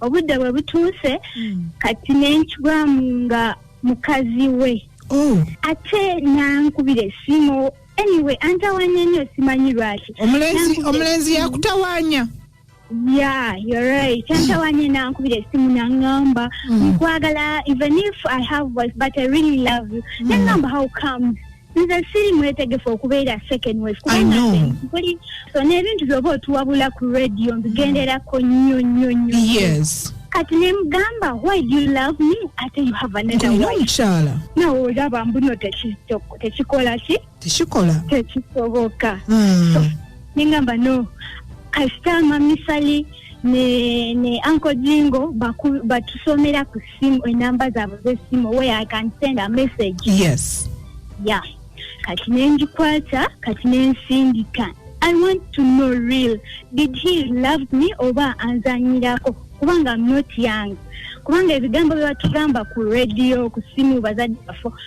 obudde bwe butuuse kati nenkigwamu nga mukazi we oh. ate nankubira esimu anyway antawanya nnyo simanyi lwaki omulenzi yakutawanya yeah you're right kyantawanye nankubira esimu nangamba nkwagala even if i have voice but i really love you nangamba mm. how comes nze siri mwetegefu okubeera sekenwes kubankuli so n'ebintu byoba otuwabula ku radio mbigenderako nnyo nnyo nnyo yes kati nemugamba why do you love me ate you have another wife omukyala nawe olaba mbuno tekikola ki tekikola tekisoboka hmm. nengamba no kasita mamisali ne ne anko jingo batusomera ku sim enamba zaabwe z'essimu where i can send a message yes ya yeah. kati nengikwata kati nensindika i want to know real did he love me oba anzanyirako kubanga not young kubanga ebigambo byebatugamba ku radio ku simu bazadde bafo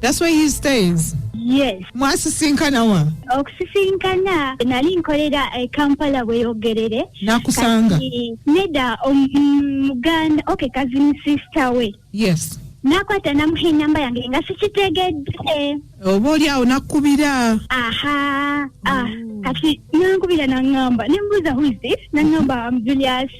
That's where he stays. Yes. Mwasisinkana wa? Okusisinkana nali nkolera e Kampala Bweyogerere. Nakusanga. Neda omuganda um, okay cousin sister we. Yes. nakwata namuha enamba yange nga sikitegedde oba oli awo nakukubira aha ah, mm. kati nankubira nangamba nembuuza who is this nangamba am julius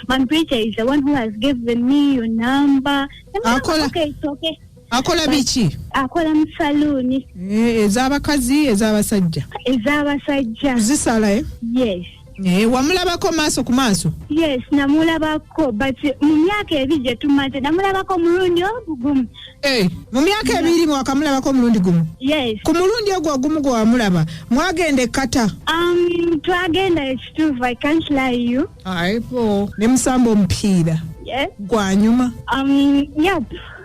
my preacher is the one who has given me your number akola okay, okay. akola biki akola mu saluuni eh, ez'abakazi ez'abasajja ez'abasajja zisala eh? yes Eh, wamulabako maaso ku maaso yes namulabako but mu myaka ebiri gye tumaze namulabako omulundi ogugumu eh, mu myaka ebiri wakamulabako omulundi gumu yes ku mulundi ogwo ogumu gwe wamulaba mwagenda ekkata um, twagenda ekituufu i can't lie you aibo ne musamba omupiira yeah. gwanyuma um, yep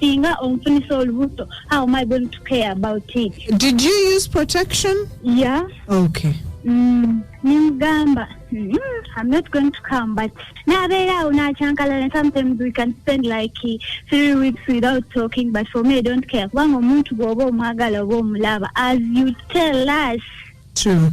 singa onfunisa olubuto how am i going to care about it did you use protection yeah okay mm, nimugamba mm, i'm not going to come but nabeera awo nakyankalana sometimes we can spend like three weeks without talking but for me i don't care kubanga omuntu bw'oba omwagala oba omulaba as you tell us True.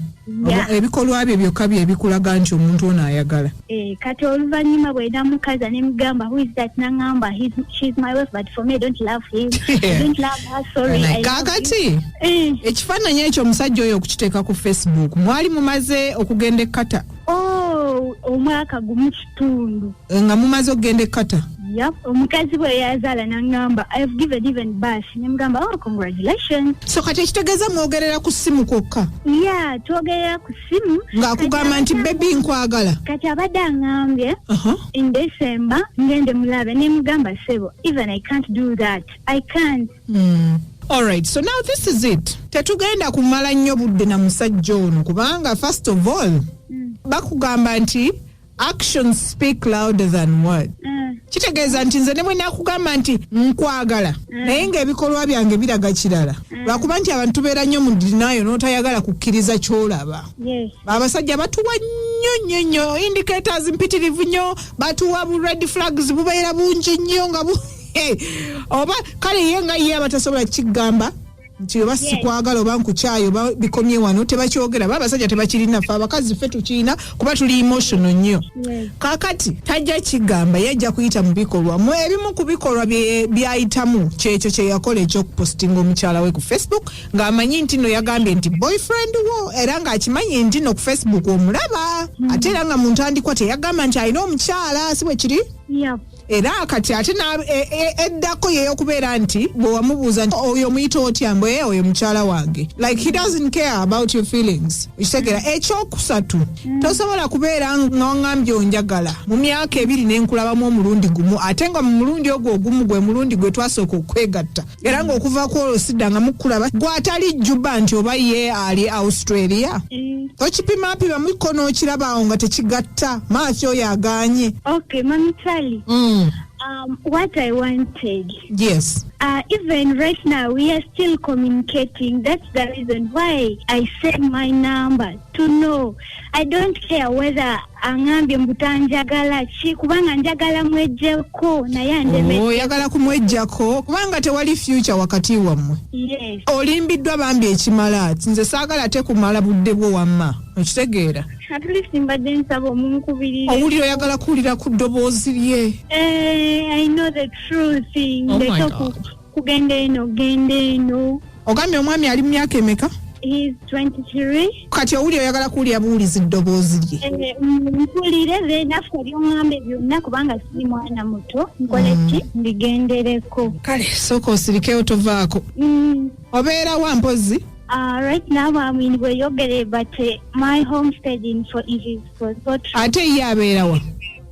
Yeah. Oba Ebikolwa bye byokka bye bikulaga nti omuntu ono ayagala. Eh, kati oluvannyuma bwe namukaza ne mugamba who is that nangamba "He's- she's my wife but for me I don't love him I don't love her sorry I love you." Kaakati Eh, ekifaananyi ekyo omusajja oyo okukiteeka ku Facebook mwali mumaze okugenda ekkata. oh omwaka gumu ttundu eh, nga mumaze okugenda ekkata Yep. omukazi bwe yazaala n'aŋŋamba i have given even birth ne mugamba oh congratulations so kati ekitegeeza mwogerera ku ssimu kwokka ya twogerera ku ssimu ng'akugamba nti bebi nkwagala kati abadde aŋŋambye Aha. in december ngende mulabe ne mugamba sebo even i can't do that i can't Mm. All right, so now this is it. Tetugenda kumala nnyo budde na musajja ono kubanga first of all bakugamba nti actions speak louder than word mm. kitegeeza nti nze ne bwe nakugamba nti nkwagala mm. naye ng'ebikolwa byange biraga kirala mm. lwakuba nti abantu tubeera nnyo mu dinayo n'otayagala kukkiriza ky'olaba abasajja batuwa nnyo nnyo nnyo indicators mpitirivu nnyo batuwa bu red flags bubeera bungi nnyo nga bu oba kale ye nga ye abatasobola kukigamba nti oba sikwagala oba nkukyayi oba bikomye wano tebakyogera ba abasajja tebakirina fe abakazi ffe tukirina kuba tuli emotional nnyo kakati tajja kigamba ye ajja kuyita mu bikolwa mu ebimu ku bikolwa byayitamu kyekyo kyeyakola ekyokupostinga omukyala we ku facebook ng'amanyi nti no yagambye nti boyfriend wo era ng'akimanyi nti no ku facebook omulaba ate era nga mu ntandikwa teyagamba nti alina omukyala si bwe kiri era kati ate na- e- e- eddako yeyokubeera nti bwe wamubuuza nti oyo omuyita otya mbu "Eh, oyo mukyala wange like he doesn't care about your feelings okitegera ekyokusatu tosobola kubeera nga wangambye onjagala mu myaka ebiri nenkulabamu omulundi gumu ate nga mu mulundi ogwo ogumu gwe mulundi gwe twasooka okwegatta era ng'okuva ku olwo siddangamu kukulaba gwe atali juba nti oba ye ali australia Eh, okipimapima muko n'okiraba awo nga tekigatta maaso oyo agaanye okay, Mami Charlie. mm. Um, what I wanted. yes Uh, even right now, we are still communicating. That's the reason why I send my number to know. I don't care whether aŋambye mbu tanjagala ki kubanga njagala mwejjeko naye andemeoyagala oh, kumwejjako kubanga tewali fyuca wakati wammwe olimbiddwa bambi ekimala nze saagala ate kumala budde bwo wamma okitegeera owulira oyagala kuwulira ku ddoboozi lye eh, kugenda eno genda eno ogambye omwami ali mu myaka emeka he's 23 kati owuli oyagala kuwulira buwulizi ddoboozi lye Eh, mm, mpulire then after byong'ambe byonna kubanga siri mwana muto nkole ki mbigendereko kale sooka osirikeyo tovaako Mm, obeera wa mpozi uh, right now I'm in Weyogere, but uh, my homestead info is for Sotri. ate ye abeera wa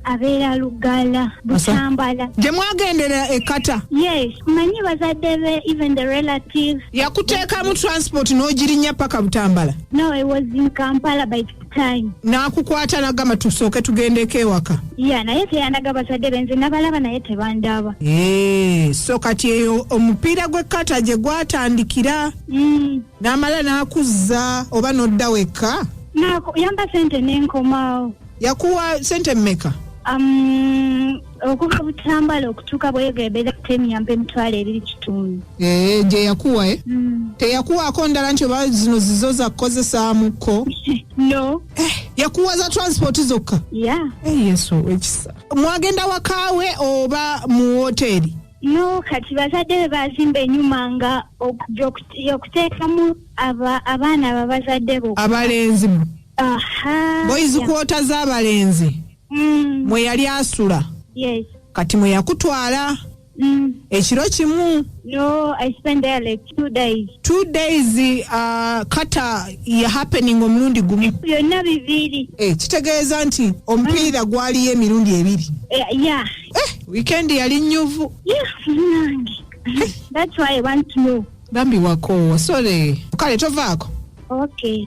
abeera lugala butambala gye mwagendera ekata yes manyi bazadde be even the relatives yakuteekamu transport n'ogirinya paka butambala no i was in kampala by the time n'akukwata nagamba tusooke tugendeko ewaka ya naye teyandaga bazadde be nze nabalaba naye tebandaba Eh, so kati eyo omupiira gw'ekkata gye gwatandikira Mm. n'amala n'akuzza oba n'odda wekka Nako yamba sente nenkomawo yakuwa sente mmeka Um, okuva butambala okutuuka bweyogera ebeera temyampa emitwalo ebiri kitundu Eh, gye yakuwa eh? Mm. teyakuwaako ndala nti oba zino zizo zakukozesaamuko no yakuwa za transport zokka ya Eh, yesu owekisa mwagenda wakaawe oba mu woteeri no kati bazadde be bazimba enyuma nga okuteekamu abaana babazadde bo abalenzi mwe Aha. boys yeah. kwota z'abalenzi Mm. mwe yali asula Yes. kati mwe yakutwala Mm. ekiro kimu No, I spent there like two days. two days uh, kata ya happening omulundi gumu Byonna bibiri. eh, kitegeeza nti omupiira gwaliyo emirundi ebiri Eh, yeah. eh, weekend yali nyuvu Yeah, munange. That's why I want to know. bambi wakoowa sole kale tovaako Okay.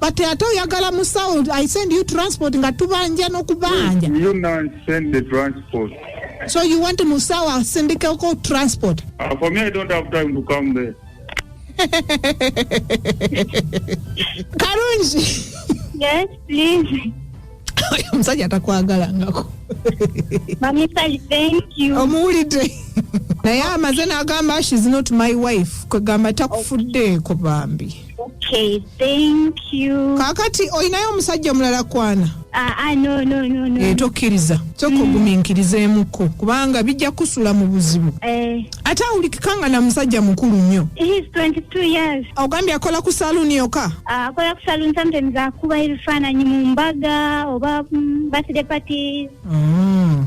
but ate oyagala musawo i send you transport nga tubanja n'okubanja You now send the transport. so you want musawo asindikeko transport Uh, for me, I don't have time to come there. kalungi Yes, please. omusajja atakwagalangako Mommy Sally, thank you. omuwulidde naye amaze n'agamba shes not my wife kwegamba takufuddeeko bambi Okay, thank you. kaakati olinayo omusajja omulala kwana Ah, ah, no, no, no, no. Eh, tokkiriza sooka oguminkirizeemuko kubanga bijja kusula mu buzibu Eh, ate awulikika nga na musajja mukulu nnyo he's 22 years. ogambye akola ku saluuni yoka Ah, akola ku saloon sometimes akuba ebifaananyi mu mbaga oba mm, birthday parties. Mm.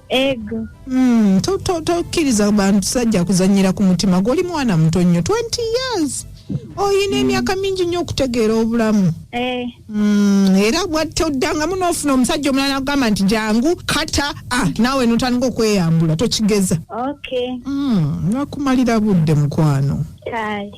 Ego. Mm, to- to- tokkiriza bantu sajja kuzanyira ku mutima gwe oli mwana muto nnyo 20 years olina emyaka mingi nnyo okutegeera obulamu Eh. Mm, era bwatta oddangamu n'ofuna omusajja omulala agamba nti jangu kata a naawe notandika okweyambula tokigeza Okay. Mm, nakumalira budde mukwano Kale.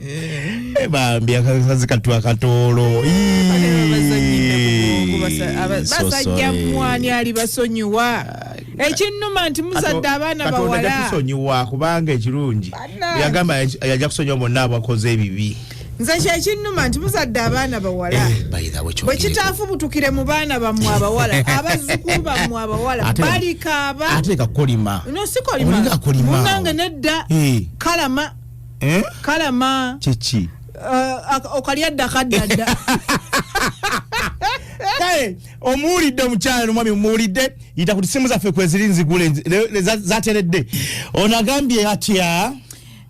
Eh, bambi akasazi katu akatoolo basajja mwani ali basonyiwa ekinnuma nti muzadde abaana bawalatusonyiwa kubanga ekirungi yagamba yajja kusonyiwa bonna abakoze ebibi nze kyekinnuma nti muzadde abaana bawala eh, bwe kitaafubutukire mu baana bammwe abawala abazzukulu bammwe abawala balikaaba ate kakolima no sikolima munange nedda eh. kalama eh? kalama kyeki uh, okalya dda kadda dda kale omuwulidde omukyala nomwami omuwulidde yita ku tisimu zaffe kweziri nzigule zateredde onagambye atya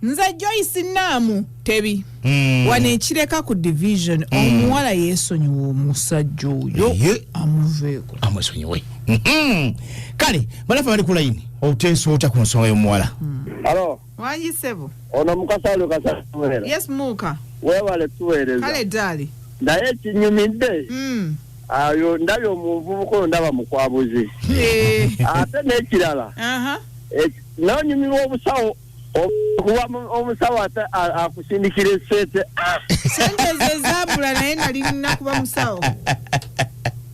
nze joyce naamu tebi hmm. wano ekireka ku division hmm. omuwala yesonyiwa omusajja oyo amuveeko amwesonyiwe hmm. kale balafe bali ku layini oteesa otya ku nsonga y'omuwala alo Wangi sebo. Ono mukasa alio kasa tuwera. Yes muka. Wewale tuwereza. Kale dali. Naye kinyumidde. Mm. Ayo ndabye omuvubuka oyo ndaba mukwabuzi. Eh. Ate n'ekirala. Aha. Eh, N'onyumirwa obusawo kuba omusawo ate akusindikira esente. Sente ezo zaabula naye nali nina kuba musawo.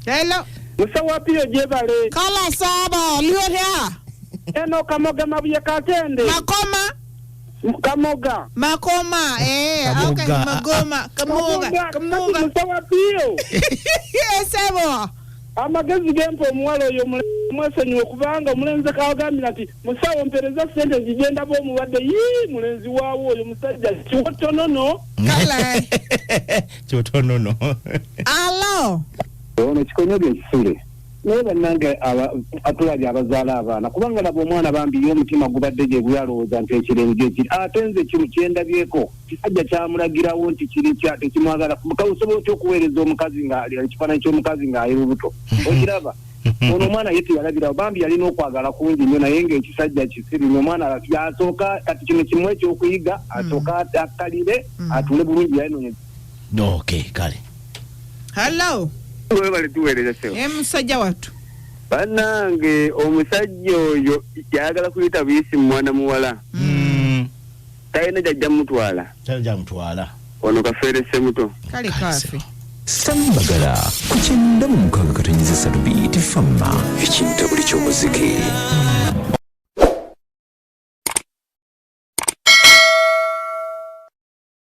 Hello. Musawo apiyo gyebale. Kala saaba, liyo hea. eno kamoga mabuye katende makoma kamoga makoma eh Kamoga. okay magoma kamoga kamoga kamoga musawa bio esebo amagezi gempa omuwala oyo mule- mwesonyiwe kubanga omulenzi kawagambira nti musawo mpereza sente zigenda ba omulwadde yii mulenzi waawo oyo musajja kiwotonono kala kyotonono alo ono kikonyoga ekisule naye bannange atulabye abazaala abaana kubanga laba omwana bambi ye omutima gubadde gye guli alowooza nti ekirenge ekiri ate nze kino kyendabyeko kisajja kyamulagirawo nti kiri kya tekimwagala osobola otya okuweereza omukazi nga ekifaananyi ky'omukazi ng'ali lubuto mm-hmm. okiraba mm-hmm. ono omwana ye teyalabirawo bambi yalina okwagala kungi nnyo naye ngaekisajja kisiri no omwana yasooka kati kino kimu ekyokuyiga asooka mm-hmm. akkalire atule bulungi yayinonya okay kale hallo webale tuweereza sebo e musajja wattu banange omusajja oyo yayagala kuyita buyisi mu mwana muwala Mm. talina gyajja mutwala Tali gyamutwala. ono kafeere semuto kale kaafe Sami Bagala ku kyenda mu mukaaga katonyeza essatu biyiti famma ekinta buli ky'omuziki.